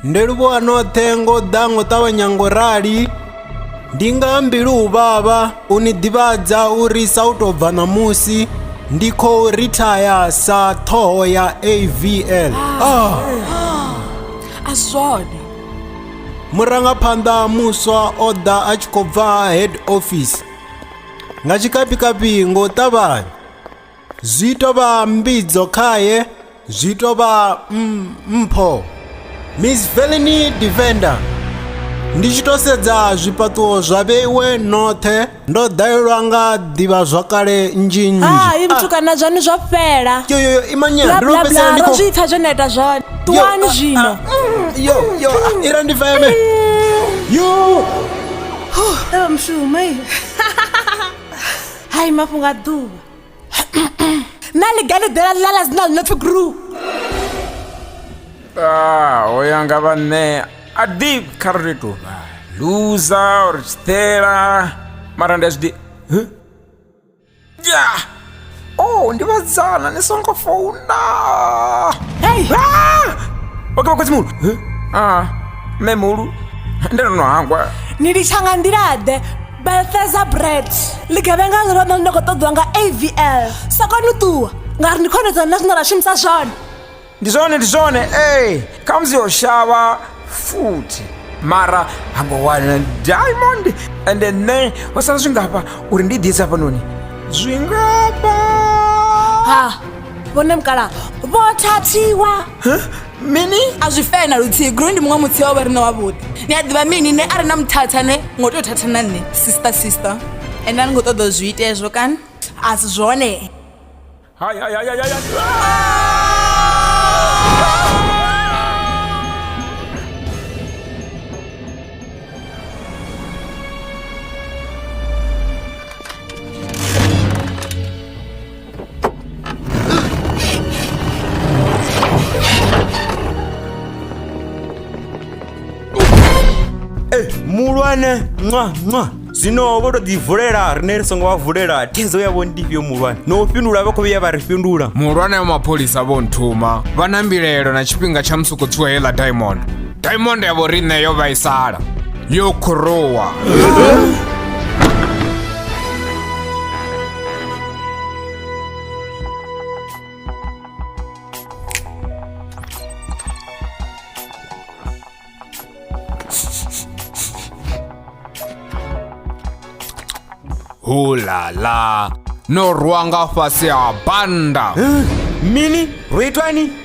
ndi livhuwa noṱhe ngo u ḓa ngo ṱavhanya ngo rali ndi nga mbilu u vhavha u ni ḓivhadza uri sa u tou bva ṋamusi ndi khou rithaya sa ṱhoho ya avl ah. a zwone murangaphanḓa muswa o ḓa a tshi khou bva head office nga tshikapikapi ngo ṱavhanya zwi tou vha mbidzo khae zwi tou vha mm, mpho miss velini defender ndi tshi tou sedza zwifhaṱuwo zwa vheiwe noṱhe ndo ḓalelwa nga ḓivha zwakale nnzhi nnzhi ah, i muthu ah. kana zwani zwo fhela yoyoyo imanyani ndo fhedzisela ndi khou zwi pfha zwo no ita zwone ṱuwani ah, zwino mm, yo yo ira ndi feme mm. yo oh, mshumai hai mafhungo a ḓuvha na ḽi ga ḽi ḓela ḽa ḽa dzina ḽi no pfi gru ah, o ya nga vha nṋe a ḓi kha ri tou vha luza or tshiṱela mara ndi a zwi ḓi ya o oh, ndi vhadzana ni songo founa hei oke ah! vhakhotsi muhulu a ah, mme muhulu ndi ndo no hangwa ni litsha nga nḓila ḓe Balthazar Brett ḽigevhenga ḽi ḽone ḽine khou ṱoḓiwa nga avl sa koni u ṱuwa ngauri ndi khonedzwa nṋe zwine ra shumisa zwone ndi zwone ndi zwone ee khamusi yo shavha futhi mara ha ngo wana diamond ende nṋe ho sala zwingafha uri ndi ḓi isa hafhanoni zwingafha ha vhone mukala vho thathiwa mini a zwi fee na luthihi gro ndi muṅwe muthihi wa vha rine wavhuḓi ni a ḓivha mini ne a re na muthatha ne ngo tea u thatha na nṋe sister sister ende a ni ngo ṱoḓa u zwi itezwo kana a si zwone Hai, hai, hai, hai, hai, hai. Eh, muhulwane nwa nwa zwino vho to ḓi vulela rine ri songo vha vulela thaidzo yavho ndi fhio muhulwane no u fhindula vha khou vhuya vha ri fhindula muhulwane wa mapholisa vho nthuma vha na mbilaelo na tshifhinga tsha musi khou tswiwa heiḽa diamond diamond ya vho riṋe yo vhaisala yo khuruwa hulala no rwa nga fhasi ha banda mini ro itwani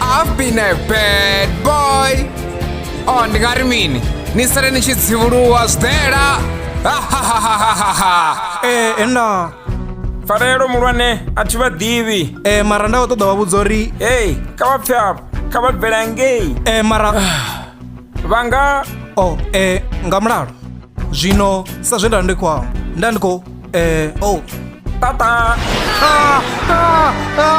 I've been a bad boy. Oh, ndingati mini? Nisale nichidziwuluwa zidera. ee ena farelo mulwane a thi vha ḓivhi ee mara nda khou ṱoḓa wa vhudza uri ei kha vha pfe apo kha vha bvela ngei ee mara vha nga o oh, eh, nga mulalo zwino sa zwe nda ndi khou amba nda ndi khou eh, o oh. tata ah, ah, ah.